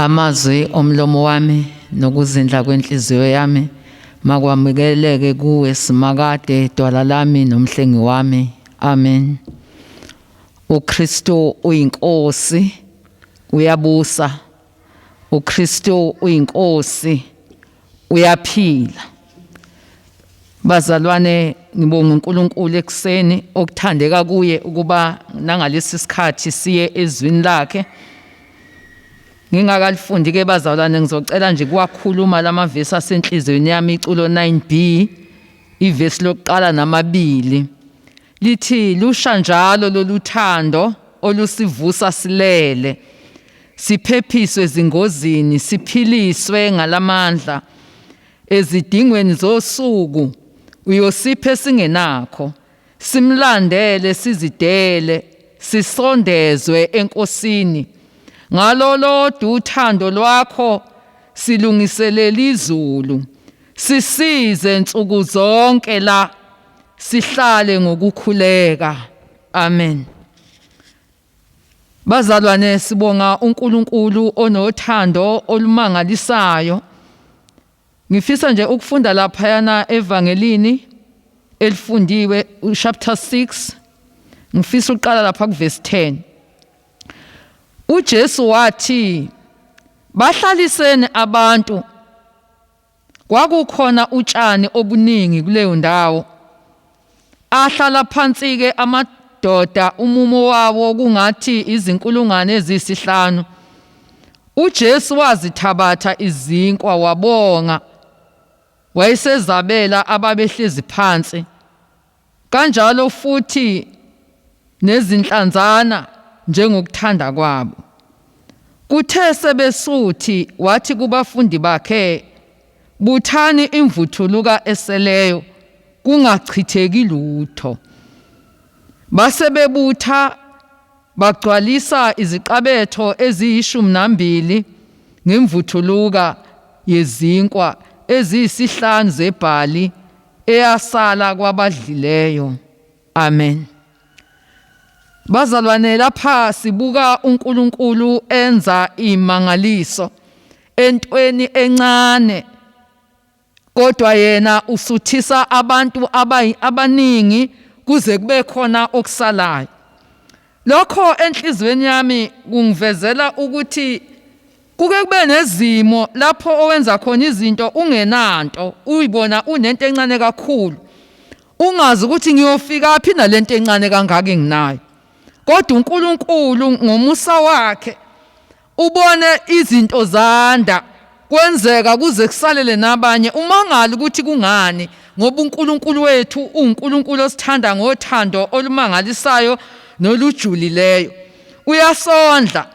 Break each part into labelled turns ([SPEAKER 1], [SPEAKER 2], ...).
[SPEAKER 1] Amazwi omlomo wami nokuzindla kwenhliziyo yami makwamukeleke kuwe simakade dwala lami nomhlengi wami. Amen. UKristu uyinkosi uyabusa. UKristu uyinkosi. uyaphila bazalwane ngibonga uNkulunkulu ekuseni okuthandeka kuye ukuba nangalesi sikhathi siye ezwini lakhe ngingakalifundi ke bazalwane ngizocela nje kuwakhuluma lamavesi asenhlizweni yami iculo 9B ivesi lokuqala namabili lithi lusha njalo loluthando olusivusa silele siphephiswe ezingozini, siphiliswe ngalamandla ezidingweni zosuku uyosiphe singenakho simlandele sizidele sisondezwe enkosini ngalolodwa uthando lwakho silungiselela izulu sisize nsuku zonke la sihlale ngokukhuleka amen Bazalwane sibonga uNkulunkulu onothando olumangalisayo. Ngifisa nje ukufunda lapha yana evangelini elifundiwe chapter 6 ngifisa uqala lapha kuverse 10. UJesu wathi bahlaliseni abantu Kwakukhona utshani obuningi kuleyo ndawo. Ahlala phansi-ke amadoda, umumo wawo kungathi izinkulungwane eziyisihlanu. UJesu wazithabatha izinkwa wabonga, wayesezabela ababehlezi phansi, Kanjalo futhi nezinhlanzana njengokuthanda kwabo. Kuthe sebesuthi wathi kubafundi bakhe, Buthani imvuthuluka eseleyo kungachitheki lutho. Base bebutha bagcwalisa iziqabetho eziyishumi nambili ngemvuthuluka yezinkwa eziyisihlanu zebhali eyasala kwabadlileyo. Amen. Bazalwane lapha sibuka uNkulunkulu enza imangaliso entweni encane kodwa yena usuthisa abantu abaningi kuze kube khona okusalayo Lokho enhliziyweni yami kungivezela ukuthi kuke kube nezimo lapho owenza khona izinto ungenanto, uyibona unento encane kakhulu. Ungazi ukuthi ngiyofikaphi nalento encane kangaka enginayo. Kodwa uNkulunkulu ngomusa wakhe Ubone izinto zanda, kwenzeka kuze kusalele nabanye. Umangale ukuthi kungani, ngoba uNkulunkulu wethu uwuNkulunkulu osithanda ngothando olumangalisayo nolujulileyo. Uyasondla.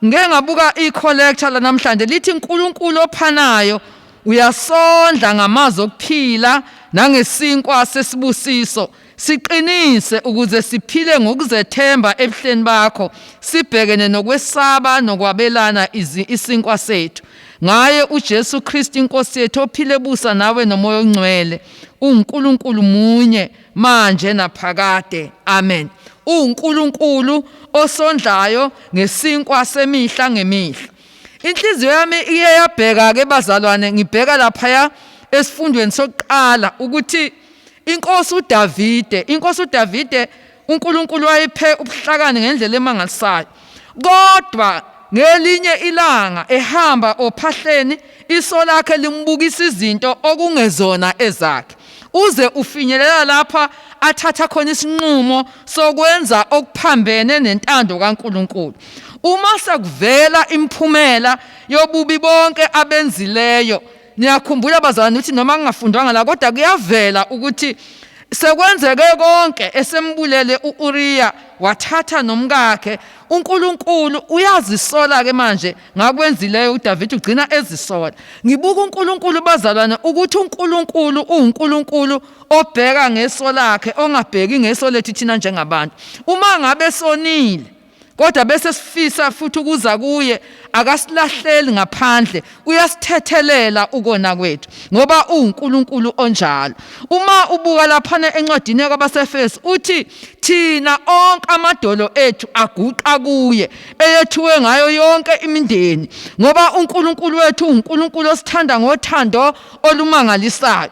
[SPEAKER 1] Ngike ngabuka i-collector lanamhlanje lithi uNkulunkulu ophanayo uyasondla ngamazwi okuphila nangesinkwa sesibusiso. Siqinise ukuze siphile ngokuzethemba ebuhleni bakho, sibhekene nokwesaba nokwabelana isinkwa sethu. Ngaye uJesu Kristu iNkosi yethu ophile busa nawe nomoya ongcwele, uNkulunkulu munye manje naphakade. Amen. UNkulunkulu osondlayo ngesinkwa semihla ngemihla. Inhliziyo yami iyeyabheka ke bazalwane ngibheka lapha esifundweni sokuqala ukuthi Inkosi uDavide, inkosi uDavide uNkulunkulu wayephe ubuhlakani ngendlela emangalisayo. Kodwa ngelinye ilanga ehamba ophahleni iso lakhe limbukisa izinto okungezona ezakhe. Uze ufinyelela lapha athatha khona isinqumo sokwenza okuphambene nentando kaNkulunkulu. Uma sekuvela imiphumela yobubi bonke abenzileyo, Niyakhumbula bazalwane ukuthi noma ngingafundwanga la kodwa kuyavela ukuthi sekwenzeke konke esembulele uUriya wathatha nomkakhe uNkulunkulu uyazisola ke manje ngakwenzileyo uDavid ugcina ezisola ngibuka uNkulunkulu bazalwane ukuthi uNkulunkulu uNkulunkulu obheka ngeso lakhe ongabheki ngeso lethu thina njengabantu uma ngabe sonile kodwa bese sifisa futhi ukuza kuye akasilahleli ngaphandle uyasithethelela ukona kwethu ngoba uNkulunkulu onjalo uma ubuka laphana encwadini yakwabaseFesu uthi thina onke amadolo ethu aguqa kuye eyethiwe ngayo yonke imindeni ngoba uNkulunkulu wethu uNkulunkulu osithanda ngothando olumangalisayo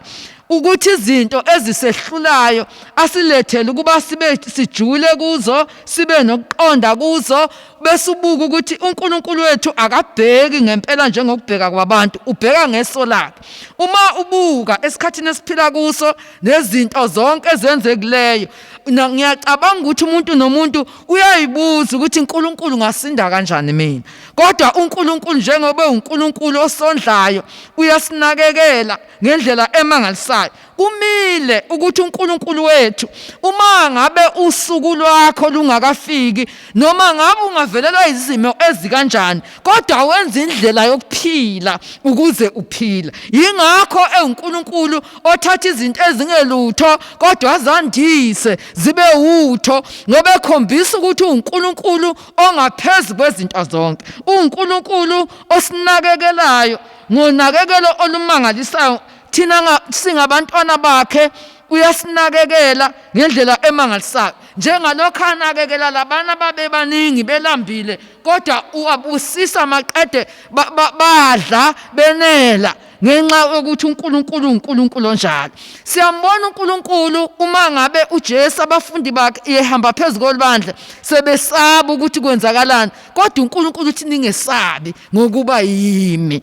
[SPEAKER 1] ukuthi izinto ezisehlulayo asilethele ukuba sibe sijule kuzo sibe nokuqonda kuzo bese ubuka ukuthi uNkulunkulu wethu akabheki ngempela njengokubheka kwabantu ubheka ngeso lakhe uma ubuka esikhathini esiphila kuso nezinto zonke ezenzekuleyo ngiyacabanga ukuthi umuntu nomuntu uyayibuza ukuthi uNkulunkulu ngasinda kanjani mina kodwa uNkulunkulu njengoba uNkulunkulu osondlayo uyasinakekela ngendlela emangalisayo kumile ukuthi uNkulunkulu wethu uma ngabe usuku lwakho lungakafiki noma ngabe ungavelelwa izimo ezikanjani kodwa wenza indlela yokuphila ukuze uphile yingakho enguNkulunkulu othatha izinto ezingelutho kodwa azandise zibe utho ngoba ekhombisa ukuthi uNkulunkulu ongaphezulu kwezinto zonke uNkulunkulu osinakekelayo Ngonakekelo olumangalisayo, thina singabantwana bakhe uyasinakekela ngendlela emangalisayo njengalokho anakekela labana babebaningi belambile kodwa uwabusisa maqede badla benela ngenxa yokuthi uNkulunkulu uNkulunkulu onjalo siyambona uNkulunkulu uma ngabe uJesu abafundi bakhe ehamba phezulu kolibandla sebesaba ukuthi kwenzakalani kodwa uNkulunkulu uthi ningesabi ngokuba yimi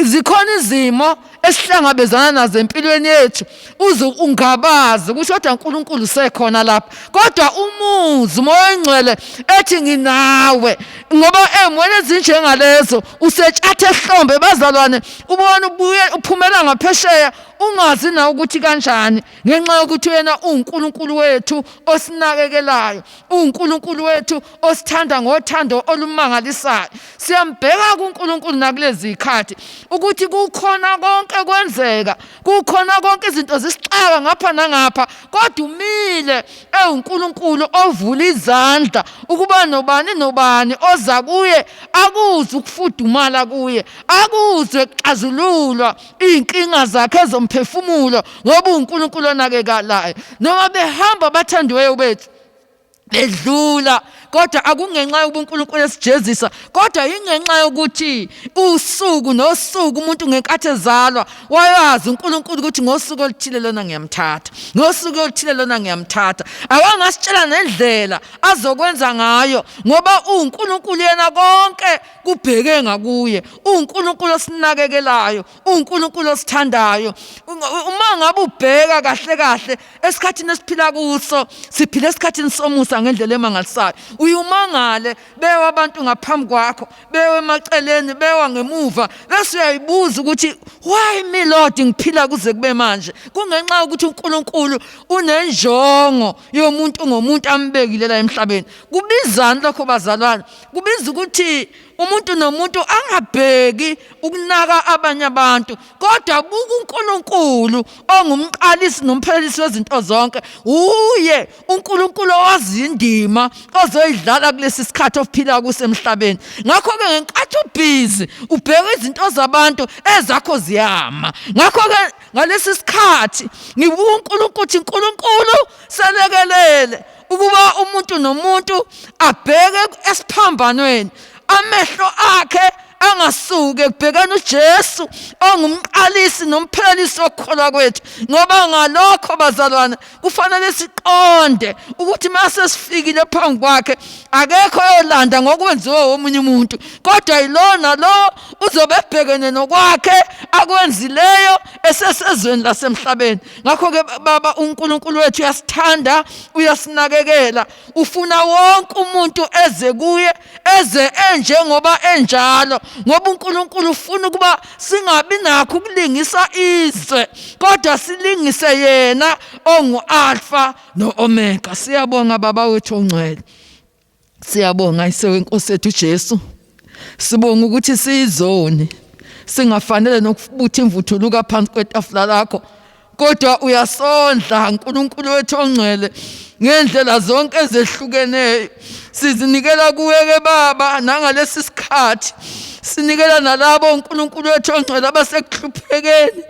[SPEAKER 1] zikhona izimo esihlangabezana nazo empilweni yethu uze ungabazi ukuthi kodwa uNkulunkulu sekhona lapha kodwa umuzi umoya ongcwele ethi nginawe ngoba emweni ezinjengalezo usetshatha ehlombe bazalwane ubona ubuye uphumela ngaphesheya ungazi na ukuthi kanjani ngenxa yokuthi wena uNkulunkulu wethu osinakekelayo uNkulunkulu wethu osithanda ngothando olumangalisayo siyambheka kuNkulunkulu nakulezi khathi ukuthi kukhona konke kwenzeka kukhona konke izinto zisixaka ngapha nangapha kodwa umile ewuNkulunkulu ovula izandla ukuba nobani nobani oza kuye akuzwe ukufudumala kuye akuzwe kuxazululwa iy'nkinga zakhe zomphefumulo ngoba uwunkulunkulu onakekalayo noma behamba abathandiweyo bethu bedlula kodwa akungenxa yobunkulunkulu esijezisa kodwa yingenxa yokuthi usuku nosuku umuntu ngenkathi ezalwa wayazi uNkulunkulu ukuthi ngosuku oluthile lona ngiyamthatha ngosuku oluthile lona ngiyamthatha awangasitshela nendlela azokwenza ngayo ngoba uNkulunkulu yena konke kubheke ngakuye uNkulunkulu osinakekelayo uNkulunkulu osithandayo uma ngabe ubheka kahle kahle esikhathini esiphila kuso siphila esikhathini somusa ngendlela emangalisayo uyumangale bewa abantu ngaphambi kwakho bewa emaceleni bewa ngemuva bese uyayibuza ukuthi why me lord ngiphila kuze kube manje kungenxa yokuthi uNkulunkulu unenjongo yomuntu ngomuntu ambekile la emhlabeni kubizani lokho bazalwane kubiza ukuthi umuntu nomuntu angabheki ukunaka abanye abantu kodwa buka uNkulunkulu ongumqalisi nomphelelisi wezinto zonke uye uNkulunkulu owazi indima ozoyidlala kulesi sikhathi ophila kusemhlabeni ngakho ke ngenkathi ubhizi ubheka izinto zabantu ezakho ziyama ngakho ke ngalesi sikhathi ngibuka uNkulunkulu ukuthi uNkulunkulu selekelele ukuba umuntu nomuntu abheke esiphambanweni amehlo akhe angasuke kubhekana uJesu ongumqalisi nomphelelisi wokukholwa kwethu ngoba ngalokho bazalwana kufanele siqonde ukuthi mase sifikile phambi kwakhe akekho oyolanda ngokwenziwa womunye umuntu kodwa yilona lo uzobe ebhekene nokwakhe akwenzileyo esesezweni lasemhlabeni ngakho-ke baba unkulunkulu wethu uyasithanda uyasinakekela Ufuna wonke umuntu eze kuye eze enjengoba enjalo ngoba uNkulunkulu ufuna ukuba singabi nakho ukulingisa izwe kodwa silingise yena ongu-alfa no-omega siyabonga baba wethu ongcwele siyabonga isewenkosi ethu ujesu Sibonga ukuthi sizoni singafanele nokubutha imvuthuluka phansi kwetafula lakho kodwa uyasondla uNkulunkulu wethu ongcwele ngendlela zonke ezehlukeneyo sizinikela kuweke baba nangalesi sikhathi sinikela nalabo uNkulunkulu wethu ongcwele abasekuhluphekeni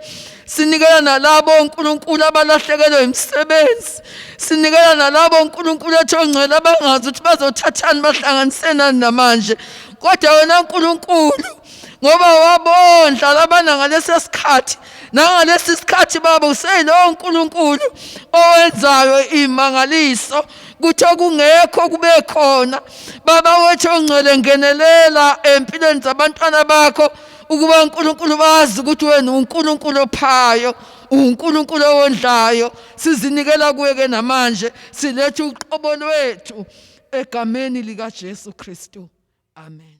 [SPEAKER 1] sinikela nalabo uNkulunkulu abalahlekelwe imisebenzi sinikela nalabo uNkulunkulu ethi ongcwele abangazi ukuthi bazothathani bahlanganisenani namanje kodwa wena uNkulunkulu ngoba wabondla labana ngalesi sikhathi nangalesi sikhathi baba useyilowo uNkulunkulu owenzayo imangaliso kuthi okungekho kube khona baba wethu ongcwele ngenelela empilweni zabantwana bakho ukuba uNkulunkulu bazi ukuthi wena uNkulunkulu ophayo uNkulunkulu owondlayo sizinikela kuye ke namanje silethe uqobo lwethu egameni likaJesu Kristu amen